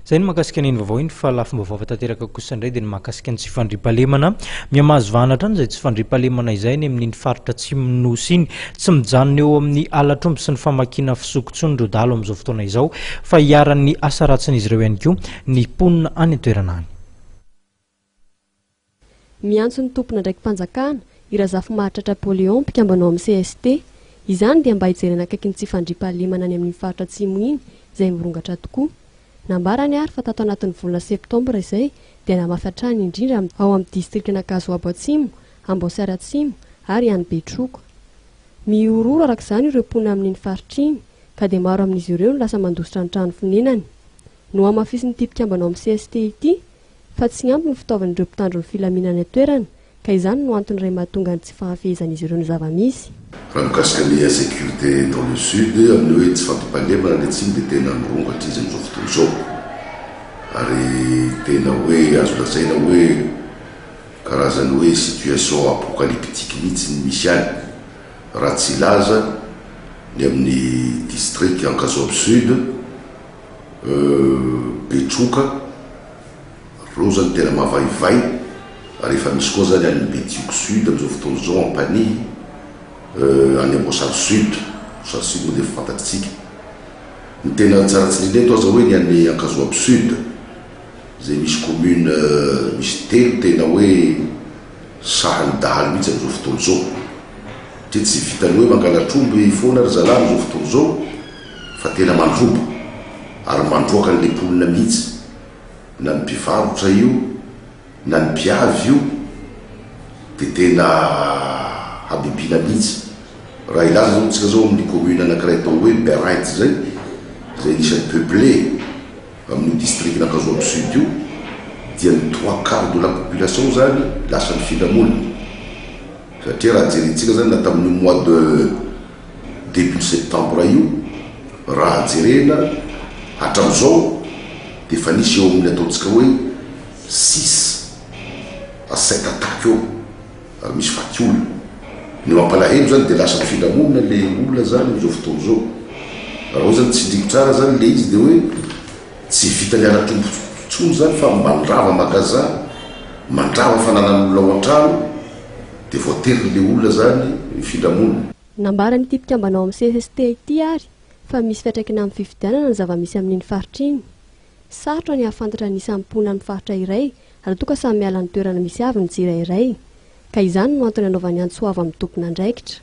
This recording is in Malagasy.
Izay ny mahakasika an'iny vaovao iny fa lafim-baovao hafa tanteraka kosa indray dia ny mahakasika ny tsy fandriampahalemana. Mihamahazo vahana hatrany izay tsy fandriampahalemana izay any amin'iny faritra atsimon'ny Nosy iny. Tsy mijanona eo amin'ny halatr'omby sy ny famakiana fisoko intsony ireo dahalo amin'izao fotoana izao fa iharan'ny asa ratsin'izy ireo ihany koa ny mponina any an-toerana any. Miantso ny tompon'andraiki-panjakana, i Razafimahatratra Pauléon, mpikambana ao amin'ny cst. Izany dia mba hijerena akaiky ny tsy fandriampahalemana any amin'iny faritra Atsimo iny izay mirongatra tokoa. Nambarany ary fa tato anatin'ny volana septambra izay dia namafy hatrany indrindra ao amin'ny distrikan'Ankazoabo Atsimo, Amboasary Atsimo ary any Betroka. Mihorohoro araka izany ireo mponina amin'iny faritra iny ka dia maro amin'izy ireo no lasa mandositra ny trano fonenany. Nohamafisin'ity mpikambana ao amin'ny cst ity fa tsy ampy ny fitaovan'ireo mpitandro ny filaminana any an-toerana ka izany no antony iray mahatonga ny tsy fahafehezan'izy ireo ny zava-misy. Raha mikasika ny insécurité dans le sud, amin'ny hoe tsy fampitandremana any atsimo dia tena mirongo hatr'iza amin'izao fotoana izao? Ary tena hoe azo lazaina hoe karazan'ny hoe situation apocalyptique mihitsy ny misy any, raha tsy hilaza ny amin'ny district Ankazoabo Sud, Euh betroka, reo zany tena mavaivay, ary efa misy koa zany any Betioky sud amizao fotoana izao ampanihy, euh any Amboasary sud, Amboasary sud moa dia efa fantatritsika. Ny tena tsara tsindrina eto aza hoe ny any Ankazoabo sud, izay misy commune misy telo tena hoe sahan'ny dahalo mihitsy amizao fotoana izao, satria tsy vitan'ny hoe mangalatr'omby foana ry zalahy amizao fotoana izao, Fa tena mandroba ary mandroaka an'le mponina mihitsy na ny mpivarotra io na ny mpiavy io de tena habibiana mihitsy raha hilaza zao tsika zao amin'ny commune anakiray atao hoe Berainty zay izay anisan'ny peuplé amin'io district n'Ankazoabo sud io dia ny trois quart de la population zany lasa nifindra monina satria raha jerintsika zany na tamin'io mois de début septembre io, raha jerena hatramin'izao dia efa nisy eo amin'ny ataontsika hoe six à sept attaques eo ary misy faty olona. Ny mampalahelo izany dia lasa mifindra monina ilay olona izany amin'izao fotoana izao. Raha hoe izany tsindriako tsara izany ilay izy dia hoe tsy vitan'ny ara-tombo intsony izany fa mandrava magasin, mandrava fananan'olona ao an-trano, Dia voaterin-le olona zany mifindra monina. Nambaran'ity mpikambana ao amin'ny cst ity ary fa misy fiantraikany amin'ny fifidianana ny zava-misy amin'iny faritra iny. Sarotra ny hahafantatra ny isan'ny mponina amin'ny faritra iray raha toa ka samy miala ny toerana misy avy ny tsirairay. Ka izany no antony anaovany antso avo amin'ny tompon'andraikitra.